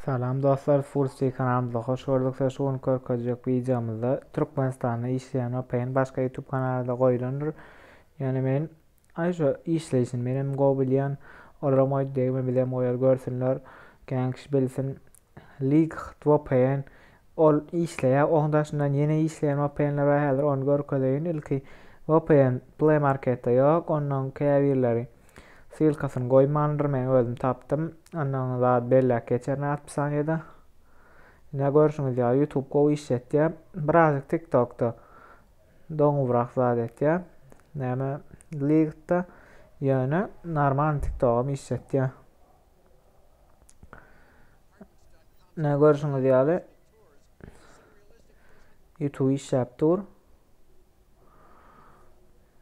Salam dostlar Fullsty kanalymyza hoş gördük size şu gün görkezjek wideomyzda Türkmenistanda işleýän OPEN başga YouTube kanalarda goýulandyr ýöne men aý şu işleýşini menem gowy bilýän olaram goýdy degme bizem goýar görsünler kän kişi bilsin Link to OPEN Ol işleýär, oň daşyndan ýene işleýän vpn-ler bar, häzir ony görkezeýin. Ilki vpn Play Marketde ýok, ondan käbirleri ssylkasyny goýmandyr, men özüm tapdym. Ondan zat belläp geçerin az bir sanyýede. Ine görşüňiz ýaly YouTube gowy işletýär. Birazjyk TikTok-da doňubrak zat etýär. Näme League-da ýöne normal TikTok-am işletýär. Nä görşüňiz ýaly YouTube işläp dur.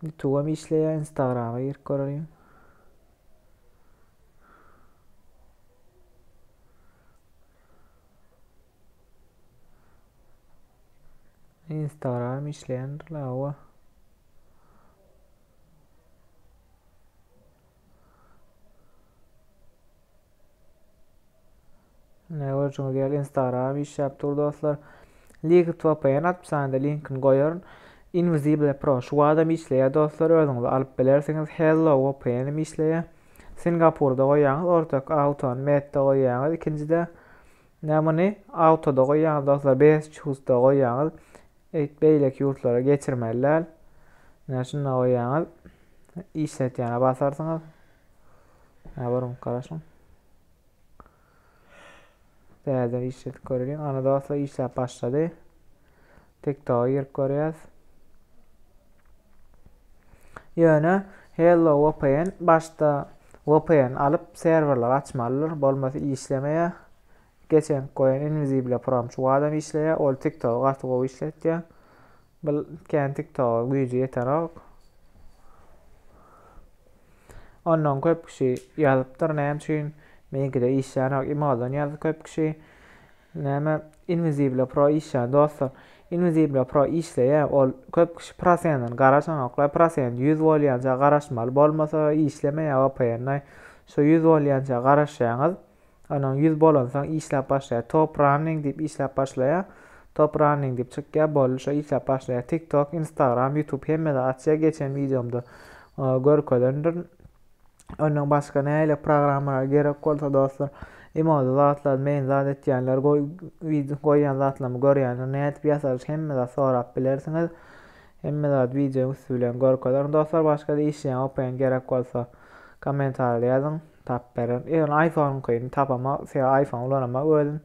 YouTube'a mı işleýär, Instagram'a girip görelim. Instagram işleýändir la owa. Ine görjüňiz ýaly Instagram işläp dur dostlar. Liquid VPN hapishanede linkini goýaryn. Invisible Pro şu adam işleýär dostlar özüňiz alyp bilersiňiz. Hello VPN hem işleýär. Singapurda goýýaňyz ortak auton metde goýýaňyz ikinjide nämuny autoda goýýaňyz dostlar best choose da goýýaňyz. Eýt beýleki ýurtlara geçirmeli däl. Ine şunda goýýaňyz. Işletýäne basarsyňyz. Ine görüň garaşyň. Täzeden işletip göreliň. Ana dostlar işläp başlady. TikToka girip görýäs. Ýöne Hello VPN başda VPN alyp serwerleri açmalydyr, bolmasa işlemeýär. Geçen goýan inwizible promçuk adam işleýä ol tik togy gaty gowy işletýä bul kän tik toga güýji ýetenok ondan köp kişi ýazypdyr näme üçin meňkide işlänok imodan ýazdy köp kişi näme inwizible pro işlän dostlar inwizible pro işleýä ol köp kişi prosenini garaşanoklar prosent 100 bolýança garaşmaly bolmasa işlemeýä vpn şu 100 bolýança garaşýaňyz Onuň ýüz bolansoň işläp başlaýar. Top running diýip işläp başlaýar. Top running diýip çykýar. Boldy şo işläp başlaýar. TikTok, Instagram, YouTube hemmede açýar. Geçen wideomda görkezendirin. Ondan başga nähili programmalar gerek bolsa dostlar, emoji zatlar, men zat etýänler, goýýan zatlarymy görýänler nädip ýasalyş hemme zat sorap bilersiňiz. Hemme zat wideonyň üsti bilen görkezerin dostlar. Başga-da işleýän, okaýan gerek bolsa kommentariýa ýazyň. Tap beren. Ýöne iPhone-yňkyny tapamok. Sebäbi iPhone ulanamok özüm.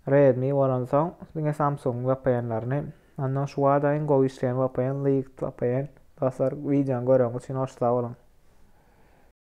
Redmi bolansoň diňe Samsung-yň vpn-laryny. Onnoň şu wada iň gowy işleýän vpn Liikt vpn. Dostlar wideony göreňiz üçin hoş sag boluň.